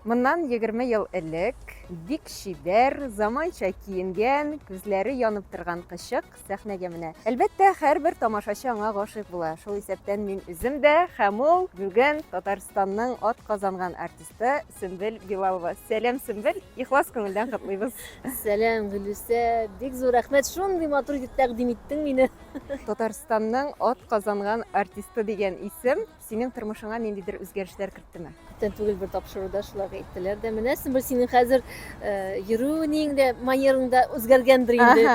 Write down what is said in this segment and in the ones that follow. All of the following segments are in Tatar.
Моннан егерме ел элек бик чибәр, заманча киенгән, күзләре янып торган кычык сәхнәгә менә. Әлбәттә, һәрбер тамашачы аңа гашыйк була. Шул исәптән мин үзем дә һәм ул, бүген Татарстанның атказанган артисты Сөмбел Билалова. Сәлам, Сөмбел! Ихлас күңелдән котлыйбыз! Сәлам, Гөлүсә! Бик зур рәхмәт, шундый матур итеп тәкъдим иттең мине! Татарстанның атказанган артисты дигән исем Синең тормышыңа ниндидер үзгәрешләр керттеме? Күптән түгел бер тапшыруда шулай әйттеләр дә, менә син синең хәзер э, йөрүнең дә, манерың да үзгәргәндер инде.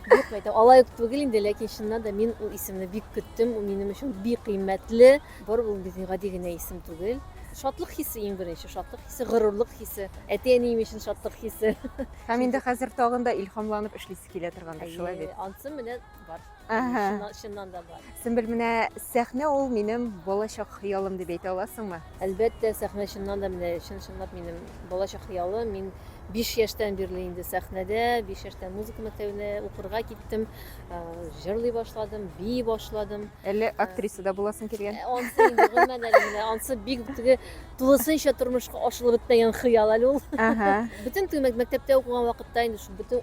Юк, әйтәм, алай ук түгел инде, ләкин чыннан да мин ул исемне бик көттем, ул минем өчен бик кыйммәтле. Бар ул безнең гади генә исем түгел. Шатлык хисе иң беренче, шатлык хисе, горурлык хисе, әти-әнием өчен шатлык хисе. Һәм инде хәзер тагын да илһамланып эшлисе килә торгандыр, шулай бит? Ансы менә бар. Ага. Чыннан, чыннан да бар. Сөмбел, менә сәхнә ул минем балачак хыялым дип әйтә аласыңмы? Әлбәттә, сәхнә чыннан да менә чын-чынлап минем балачак хыялым. Мин 5 яшьтән бирле инде сәхнәдә, 5 яшьтән музыка мәктәбенә укырга киттем, э, җырлый башладым, бии башладым. Әллә актриса да буласың килгән? Э, Ансы инде гомумән әле менә ансы бик теге тулысынча тормышка ашырылып бетмәгән хыял әле ул. Ага. Бөтен теге мәк- мәктәптә укыган вакытта инде шул бөтен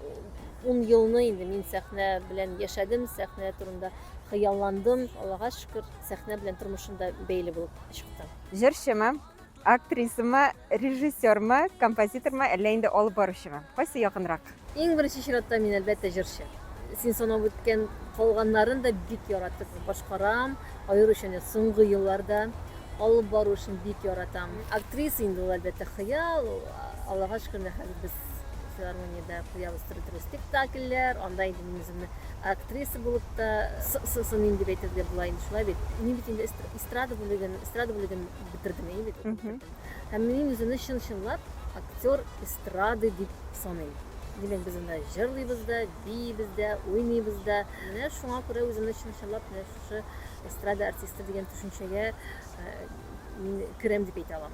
Ун елны инде мин сәхнә белән яшәдем, сәхнә турында хыялландым. Аллага шөкер, сәхнә белән тормышым да бәйле булып чыкты. Җырчымы, актрисамы, режиссермы, композитормы, әллә инде алып баручымы? Кайсы якынрак? Иң беренче чиратта мин, әлбәттә, җырчы. Син санап үткән калганнарын да бик яратып башкарам. Аеруча менә соңгы елларда алып бару эшен бик яратам. Актриса инде ул, әлбәттә, хыял. Аллага шөкер, менә хәзер без филармониядә куябыз төрле төрле спектакльләр анда инде мин үземне актриса булып та сынмыйм дип әйтергә була инде шулай бит мин бит инде эстрада бүлеген эстрада бүлеген бетердем әйе бит һәм мин үземне чын чынлап актер эстрады дип саныйм димәк без анда җырлыйбыз да биибез дә уйныйбыз да менә шуңа күрә үземне чын чынлап менә шушы эстрада артисты дигән төшенчәгә мин керәм дип әйтә алам